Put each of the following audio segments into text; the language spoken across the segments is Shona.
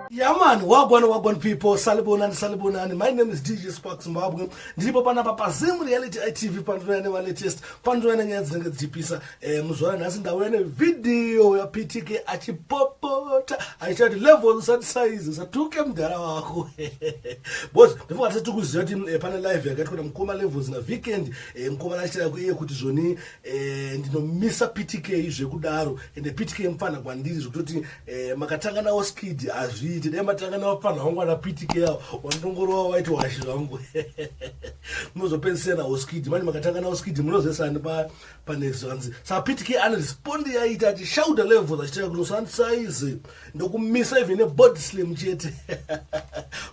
Yaman, wagwan wagwan people, salibonani salibonani. My name is DJ Spark Zimbabwe. Ndiripo panapa pa Zim Reality ITV pandinoya ne latest, pandinoya nenyaya dzinenge dzichipisa. Eh, muzvara nhasi ndauya ne video ya PTK achipopota, achichati level usati size, usatuke mdara wako. Boss, before atati kuziva kuti eh, pane live yakaitwa na mkoma levels na weekend. Eh, mukomana achitaura kuiye kuti zvoni eh, ndinomisa ptk zvekudaro ende ptk mupfanha kwandiri zvekutoti eh, makatanga nawo skid hazviiti dai matanga nawo pfanha wangu ana ptk awo wandongorova waiti washi zvangu munozopedzisira nawo skid mani makatanga nawo skid munozesani panext zvanzi sa ptk anerespondi yaita ati shauda levels achitaura kuti usandisaizi ndokumisa even nebod slim chete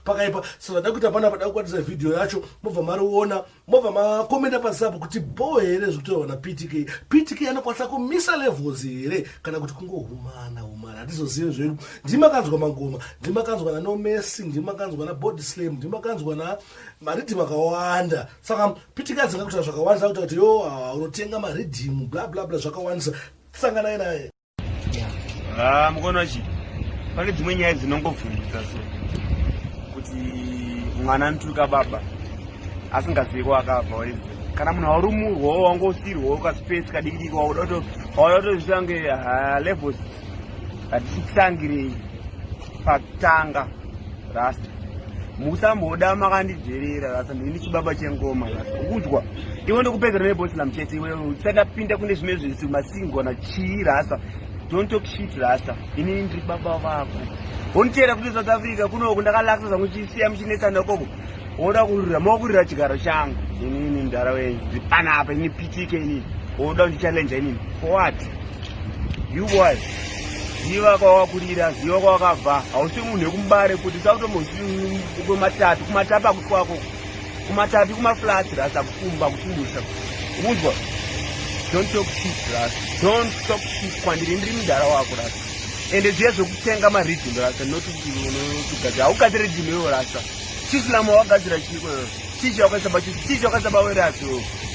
pakaipa so vada kuita pana vada kukwatisa vhidhiyo yacho mobva mariona mobva makomenda pasi apo kuti bho here zvekutaurwa naptk ptk anokwanisa kumisa levels here kana kuti kungohumana humana hatizozive zvedu ndimakanzwa mangoma ndimakanzwa nanomesi ndimakanzwa nabody slam ndimakanzwa na maridhimu akawanda saka ptk adzinga kutaa zvakawandisa kuta kuti yo ah, unotenga maridhimu bla bla bla zvakawandisa sanganai naye Ah, mukono chi pane dzimwe nyaya dzinongovhundisa so kuti mwana anotuka baba asingazivi kwaakabva waizi kana munhu aurumurwawo wangosirwawo kaspace kadikidiki wauda to wauda tozvitange ah, levels hatitangirei pakutanga rasta musamboda makandidherera rasta ndini chibaba chengoma rasta ukunzwa iwe ndokupedzera neboslam chete iwe usatapinda kune zvimwe zvisi masingona chii rasta don't talk shit rasta inini ndiri baba vako honiteera kuti south africa kunoku ndakalakisa zvangu chisiya muchinetsana ikoko woda kurira mokurira chigaro changu inini mdara wenyu ndipanapa ini pitike inini woda kundichalenja inini for what you boy ziva kwawakurira ziva kwawakabva hausi munhu wekumbare kuti sautomokumatatu kumatapa kuti kwako kumatapi kumaflat rasa kukumba kukumusha unzwa don't talk shit rasa don't talk shit kwandiri ndiri mdara wako rasa ende zviya zvekutenga maridhim rasa not kugadzira haugati ridhim iwe rasa chisilamu wawagadzira chiiko chichi wakasaba chichi chichi wakasaba werasi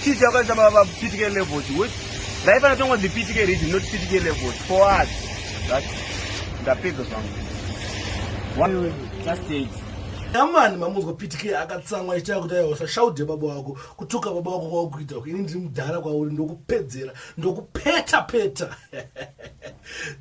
chichi wakasaba vapitike levels wet raifana tongo dzipitike ridhim not pitike levels for us that ndapedza zvangu one just stage amani mamunzwa pitike akatsamwa ichaya kuti ayosa shaude baba wako kutuka baba wako kwawakuita ini ndiri mudhara kwauri ndokupedzera ndokupeta peta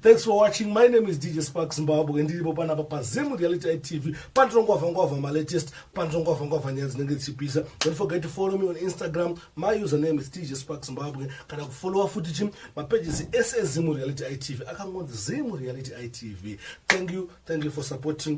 thanks for watching my name is dj spark zimbabwe ndiripo panapa pazim reality itv pandirongwavha ngwavha malatest pandirongwavha ngwavha nyaya dzinenge dzichipisa don't forget to follow me on instagram my username is dj spark zimbabwe kana kufollowa futi chi mapages ese ezimu reality itv akangonzi zimu reality itv thank you thank you for supporting